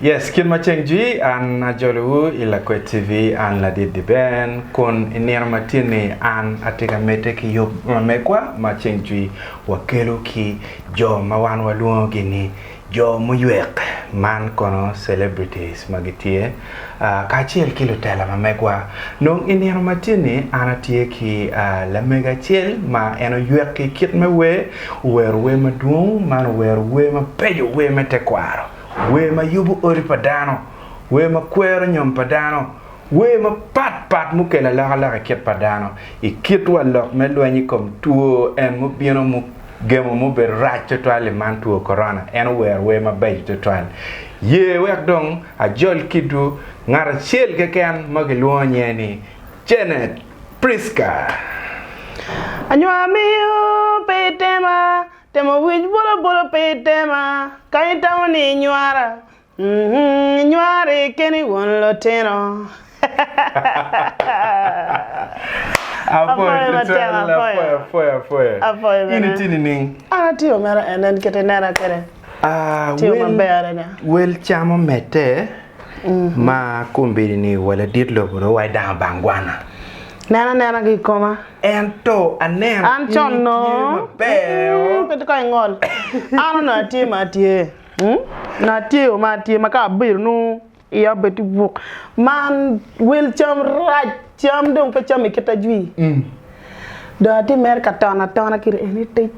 Yes, kit ma ceng jwi, an ajolowu i Lakwed TV, an Ladit Diben, kun i nino matinni an atye ka medde ki yub ma megwa ma ceng jwi wakelo ki jo ma wan walwongogi ni jo muywek, man kono celebrities ma gitye. kacel ki lutela ma megwa. Nong i nino ma tye ni an atye ki lamego acel ma en oywek ki kit me wer, owero wer madwong man owero wer mabeco, wer me tekwaro, wer ma yubo odi pa dano, wer ma kwero nyom pa dano, wer mapat pat mukelo alokaloka i kit pa dano, i kit wa lok me lweny i kom two en mubino mu gemo mubedo rac twatwal-li man two korona, en owero wer mabeco twatwal. Ye wek dong ajol kitwu ngat acel keken ma kilwongo nyinge ni Janet Pritzker. Anywaka miyo pe itema, temo wic bolobola pe itema, ka itamo ni inywara, mm, inywari keni won lutino. Apwoyo matek, apwoyo. Apwoyo bene. In itye nining? An atye omera en en kit inena kwede. Ah, Tye wel- maber adada. Wel camo mete ma kombeddi ni wa ladit lobo dong wa idang bang gwana. Nen anena ki i koma. Ento aneno An in con no. itye maber. Mm, Pe ka ingol. An onongo atye ma atye. Mm? Onongo atye ma atye ma ka abiro nung Iya obed ki buk man wel cam rac cam dong pe cam i kit ajwi dong atye mere ka tono atona kiri en ni tic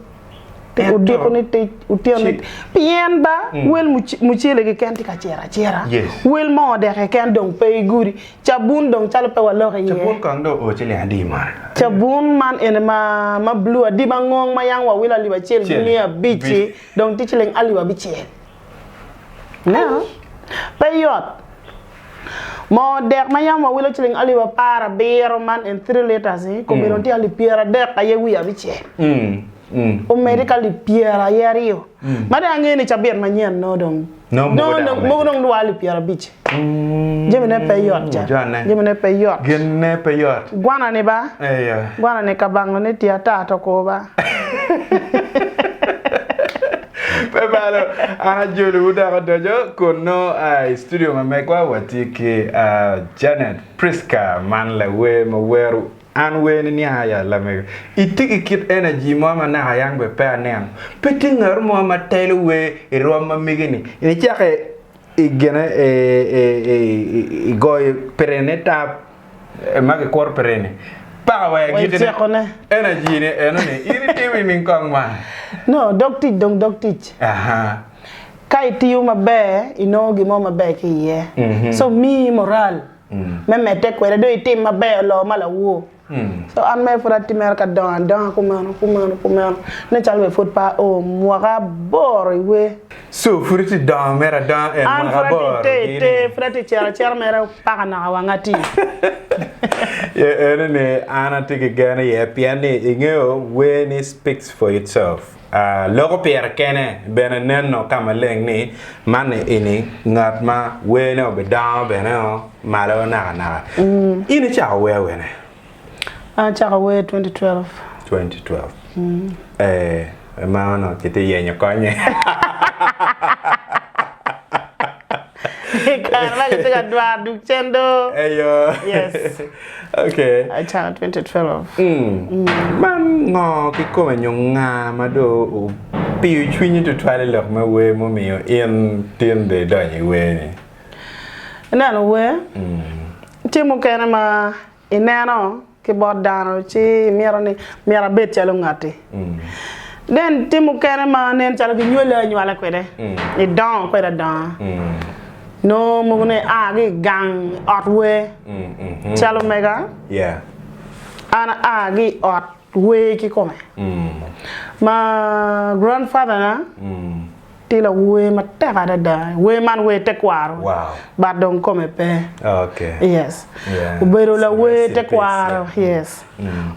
odiko ni tic otyeno ni tic pien ba wel mucele keken tye ka ciro acira wel moo dek keken dong pe i gudi cabun dong calo pe waloko iye Cabun kong dong oo ciling adi man cabun man eni ma ma blue adi ma ngong ma yam wawilo alip acel ki miya abic-ci dong tye ciling alip abicel. Ineno? Pe yot. Moo dek ma yam wawilo ciling alip apar abiro man en three litres-ni, i kome dong tye alip pyeradek aye wiye abicel. Omedde ki alip pyera aye aryo. Ma dong angeyo ni cabit manyen nongo dong, Nongo mogo dok nongo, omedde. mogo dong lwar alip pyerabic. Jamine pe yot ca. Mujane. Jamine pe yot. Ginne pe yot. Gwanani ba. Eya. Gwanani kabango ni tye atar to kor ba. Pe balo, an ajolowu dok adoco kunnu i studio ma megwa. Watye ki Janet Prisca man lawer ma wero An Werni Niang Aya Lamego. Itye ki kit energy mo ma naka yam pe aneno. Pe tye ngat mo ma telo wer i rwom ma mege-ni. Icake I gene i goyo pirene tap eh, ma kikuro pirene. Paka wa Wa i agikine. tyekone. Energy-ne eno ni in itimo i ning kong man. No, dog tic dong dog tic. Aha. Ka itiyo maber, inongo gin mo maber ki iye. So, miyi moral me medde kwede dong itim maber loo ma lawor. So an mere pud atye mere ka dongo adonga kumeno, kumeno, kumeno, nen calo be pud pe ao mwaka aboro i wer. So pud itye dongo mere adonga en An mwaka pud atye aboro te, te, gini? pud atye cito acita mere paka naka wanga atir. Ye eno ni an atye ki gen iye pien ni ingeyo wer ni speaks for itself. Loko pire kene bene neno ka maleng ni manni ini ngat ma wene obidongo bene o malo naka naka. In icako wer wene? An acako wer 2012. 2012. Ee, ma onongo kitye yenyo konye. I kare ma kitye ka dwaro duk cen do. Eyo. Yes. okay. Acana 2012. Man ngo kikome nyo nga ma do opiyo cwinyi tutwal i lok me wer mumiyo in tin do idonyo i wer ni? Ineno wer, tye mukene ma ineno ki bot dano ci imito ni myero abed calo ngatti. Then tim mukene ma nen calo kinywoli anywala kwede, idongo kwede adonga. Nongo mukene ia ki i gang, ot wer. Calo mega, Yeah. an aa ki i ot wer kikome ma grand father na tye lawer matek adada wer man wer tekwaro but dong kome pe yes obedo lawer tekwaro yes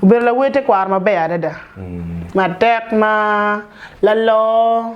obedo lawer tekwaro maber adada matek ma lalor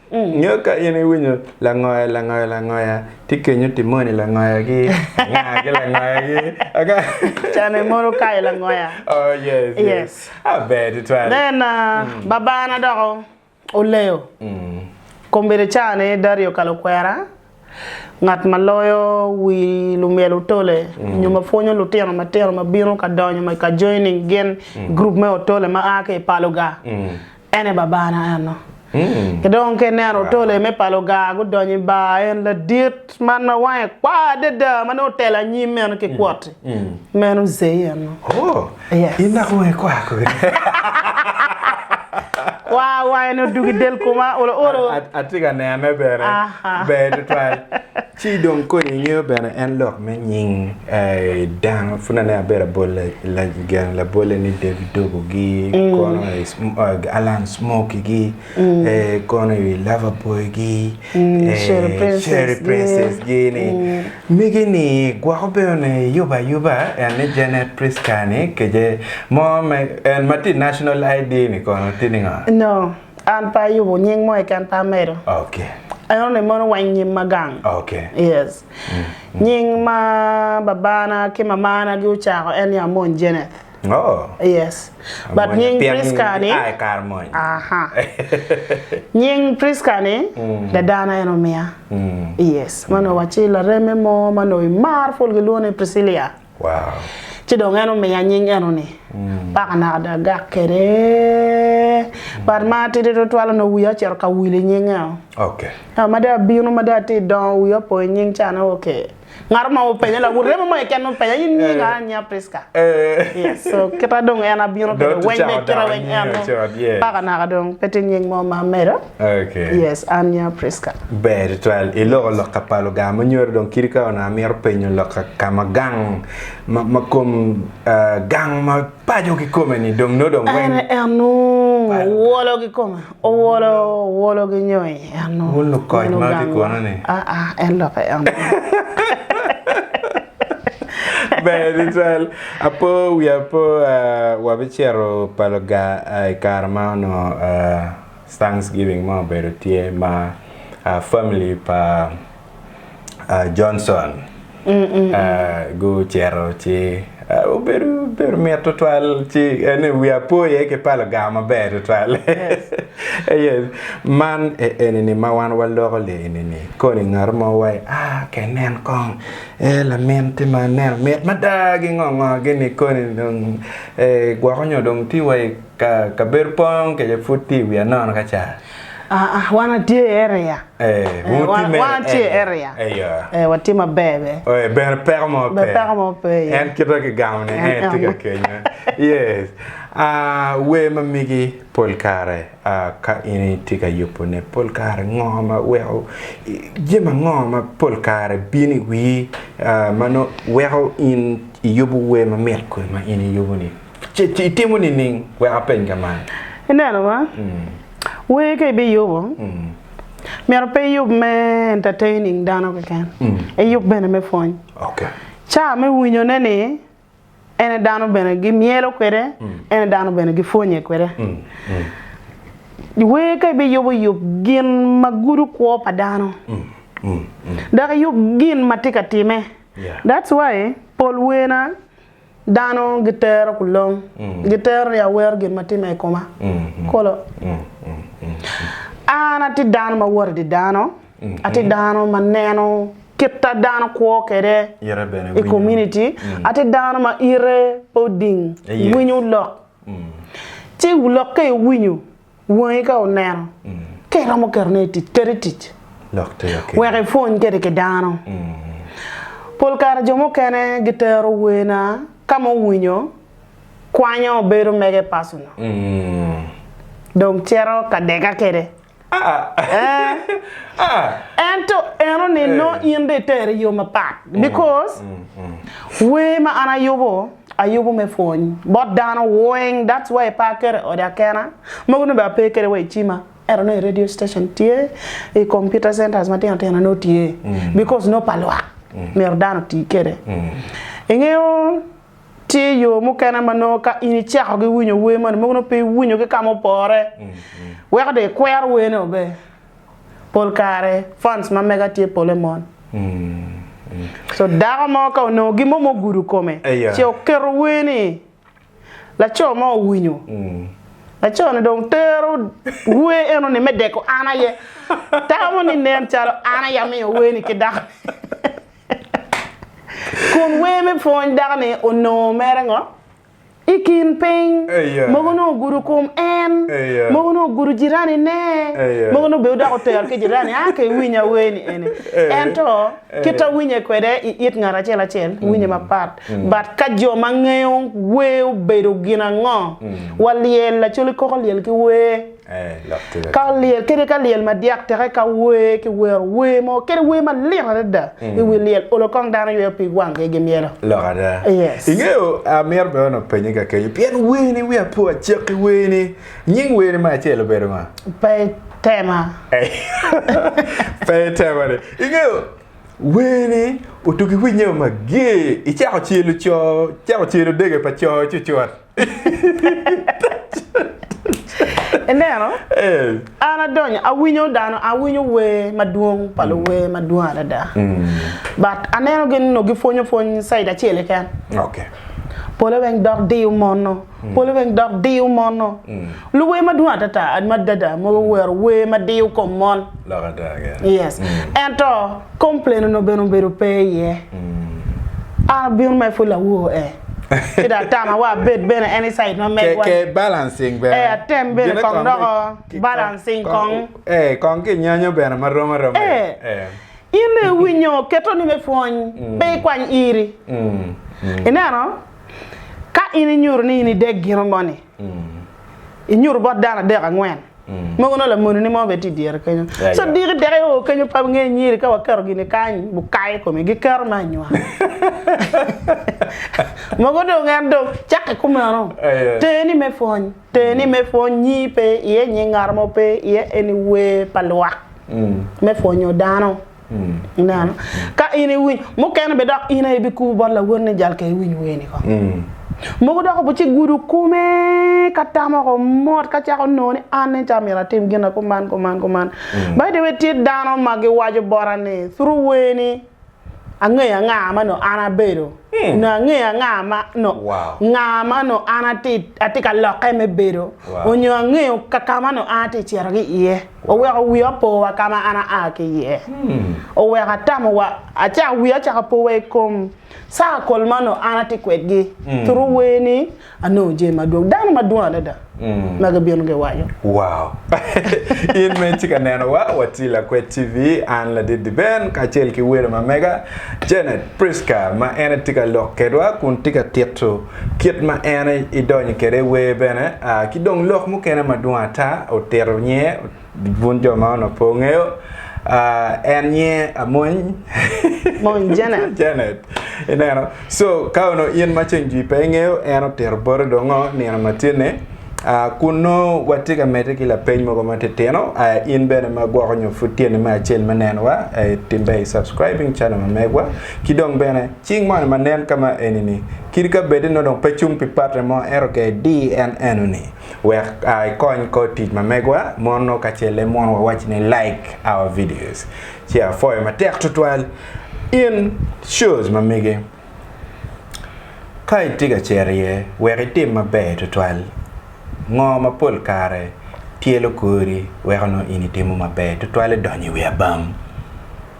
Nyo ka in iwinyo langoya langoya langoya tye kenyo timoni langoya gi anga ki langoya gi anga. Cane mono kayo langoya. Oh yes yes. Yes. Ah ber tutwal. Then uh, babana dok o- oleyo. Kombeddi ca ni Dario Kalokwera ngat ma loyo wi lumyel otole mm. nyo ma pwonyo lutino matino ma bino ka donyo ma ka joining gin mm. group me otole ma a ki i paloga mm. ene babana eno mm. ki dong ke neno otole me paloga gudonyo i bar en ladit man ma wange kwa adada ma ne otelo anyim meno ki kwoti mm. mm. meno zei eno oh. Yes. In naka weng kwar kodi. Kwar wangene odug i del koma olo olo. Atye ka nene bene. Ber tutwal. Ci dong kodi ingeyo bene en lok me nying eh, dano pud ane abedo abol gen labolle ni David Dogo gi mm. kono eh, eh, Alan Smoky gi kono iwi lover boy gi cherry princess gi ni mege ni gwoko bene ne yuba yuba en ni Janet Prisca ni kece mo me en ma ti national ID ni kono ti ningo? No, an pe ayubo nying mo keken pe amedo. Okay. En onongo mono weng nyim ma gang. Okay. Yes. Nying ma babana ki mamana gi ocako en ni Amony Jeneth. Oh. Yes. But Amwonya nying pien Prisca ni giaa i kare mony. Aha. nying Prisca ni dadana en omiya. Yes. Ma onongo waci lareme mo ma onongo imar pol gilwongo ni Priscilia. Wow. Ci dong en omiya nying eno ni. Paka naka dong agak kwede. But ma atidi tutwal onongo wiya ocito ka wil i nying eno. Okay. Ento ma dong abino ma dong atye dongo wiya opo i nying ca ni okay. Ngat ma openye la wun remo mo keken wun penya in nyinga eh. nya Priska. Eh. Yes. So kita dong en abino kede weng me kira weng en. Paka naka dong pe tye nying mo ma medo. Okay. Yes, an nya Priska. Ber twal i loko yes. lokka pa Luganga ma nyoro dong kiri ka ona miro penyo lokka ka ma gang ma, ma kom uh, gang ma pajo ki kome ni dong no dong weng. En en wolo ki kome. Owolo, owolo gi nyo i eno. Wun lukoc ma ki kono ni. Aa, en lok i eno. Ber tutwal. Apo wiya po wabicito pa luga i kare ma onongo Thanksgiving mo obedo tye ma family pa uh, Johnson uh, gucito ci uh, obedo obedo mit tutwal ci ene wi apoye ki palo gar maber tutwal yes. yes. man e, enini ma wan waloko le enini koni ngat mo wai ah ke nen kong e lamin ti ma nen mit mada gi ngo ngo gini koni dong e gwoko nyo dong ti wai ka kabedo pong ke pud ti wi anono ka ca Ah ah wan atye i area. Eh, Eh, wuti wan- me wan atye i area. Eh, ya. Eh, watye maber be. Eh, bene peko mo Be pe. peko mo pe, yeah. En kita ki gamo ni En- en tye ka en. kenya. Yes. Ah, wer ma migi pol kare ah, ka in itye ka yubo ne pol kare ngo ma weko i- jami ango ma pol kare bino i wii ah, ma nongo weko in iyubo wer ma mit kodi ma in iyubo ni? Ce itimo nining? Wek apeny ka man. Ineno ma? Wer ka ibiyubo, myero pe iyub me entertaining dano keken, iyub bene me pwony. Ca me winyone ni ene dano bene gimyelo kwede, ene dano bene gipwonye kwede. Wer ka ibiyubo, yub gin ma gudo kwo pa dano, dok iyub gin ma tye ka timme. That's why pol werna. Dano gitero kulong, gitero ni awero gin ma timme i koma. Kolo. An atye dano ma woto i dye dano, atye dano ma neno kit ma dano kwo kwede i komuniti, atye dano ma ite pe oding, winyo lok. Ci lokke iwinyo. Wangi ka oneno, ka iromo ketone i tic, kete i tic. Wek ipwony kwede ki dano. Pol kare jo mukene gitero wena ka ma owinyo kwanyo bedo mege personal, dong cito ka dega kwede. Ento enoni nongo in dong itere i yo mapat because wer ma an ayubo. ayubu me pwony bot dano weng that's why ipa kede ode akena mogo nongo bene ape kede wa icima ento nongo i radio station tye i computer centers matino tino nongo tye because nongo pa lwak myero dano oti kede ingeyo tye yo mukene ma nongo ka in icako ki winyo wer moni mogo nongo pe iwinyo ki kama opore weko dong ikwero werneo be. pol kare funds ma mega tye pole mon so dako mo ka onongo gin mo ma ogudo kome ce oketo wer ni laco mo owinyo laco ni dong tero wer eno ni me deko an aye tamo ni nen calo an aye amiyo wer ni ki dako ni kun wer me pwony dako ni onongo mere ngo. I kin piny, mogo onongo ogudo kom en, mogo onongo ogudo jiranine, mogo onongo bene odoko tero ki jirani, a ke iwiny awer ni eni. Ento, kit ma winye kwede i it ngat acel acel, winye mapat. But ka jo ma ngeyo wer obedo gin ango? Walyel lacol i koko lyel ki wer. Ka lyel kadi ka lyel madyak teke ka wer ki wero wer mo kadi wer malit adada i wi lyel olo kong dano yweyo pig wangi gi myelo. Lok ada. Yes. Ingeyo amyero bene onongo penye ka kenyo pien wer ni wiya po acek ki wer ni. Nying wer ni me acel obedo nga? Pe itema. Pe itema ni. Ingeyo wer ni otugi winya mager icako celo co icako celo dege pa co cucut. Ineno? An adonyo, awinyo dano, awinyo wer madwong pa luwer madwong adada. But aneno gin nongo gipwonyo pwony caid acel keken. Okay. Pole weng dok diyo mono. Pole weng dok diyo mono. Luwer madwong adada, madada mogo owero wer ma diyo kom mon. Lok ada keken. Yes. Ento complain onongo bene obedo pe iye. An abino mere pud lawor eh. ki dong atama wa abed bene any side ma megwa ke balancing bene eh atem bene kong doko balancing kong eh kong ki nyanyo bene ma rom aroma eh in dong iwinyo keto ni me pwony mm. pe ikwany iri mm. Mm. ineno ka in inyuto ni in idek gino moni mm. inyuto bot dano adek angwen Mogo nongo lamonini mo bene tye i dyere kenyo. So diki deke oo kenyo pe wungeyo nyiri ka waketo gini kany bukayo i kome giketo me anywaka. Mogo dong en dong cakke kumeno. Ter ni me pwony, ter ni me pwony nyii pe iye, nying ngat mo pe iye eni wer pa lwak me pwonyo dano. Ineno? Ka in iwiny, mukene be dok in aye ibikubo bot lawot ni jal ka iwiny wer ni ko. Mogo dok obi ci gudo kome ka tamo ko mot ka cako nongo ni an nen ca myero atim gina kuman kuman kuman. By the way tye dano ma giwaco bota ni through wer ni angeyo anga ma nongo an abedo, nongo angeyo anga ma nongo nga ma nongo an atye ka lokke me bedo, onyo angeyo kaka ma nongo an atye cito ki iye. Oweko wiwa powa ka ma an aa ki iye. Oweko atamowa acako wiya cako powa i kom saa kol ma onongo an atye kwedgi. Thuru wer ni, Anongo jami madwong. Dano madwong adada ma gibino giwaco. Wow! In ma itye ka nenowa, watye Lakwed TV, an Ladidi Ben kacel ki welo ma mega Janet Prisca ma en aye tye ka lok kedwa kun tye ka tito kit ma en idonyo kede wer bene ki dong lok mukene madwong ata otito nye bun jo ma ono po ngeyo en nye amony mony janet janet ineno so ka ono in ma ceng jwi pe ingeyo en otito bote dongo nino ma tye ne kun no watye ka mete ki lapeny mogo ma titino in bene ma gwoko nyo pud tye ni me acel me nenowa timbe subscribing channel ma megwa ki dong bene Cing moni ma nen ka ma eni-ni, kit ka bed ni nongo dong pe cung pi patte mo, ento ka idir en enoni, wek a ikony kor tic ma megwa mono kacel e mono wawac ni like our videos. Ci apwoyo matek tutwal in shows ma mege. Ka itye ka cero iye wek itim maber tutwal, ngo ma pol kare tyelo kori weko nongo in itimo maber tutwal idonyo i wi abam?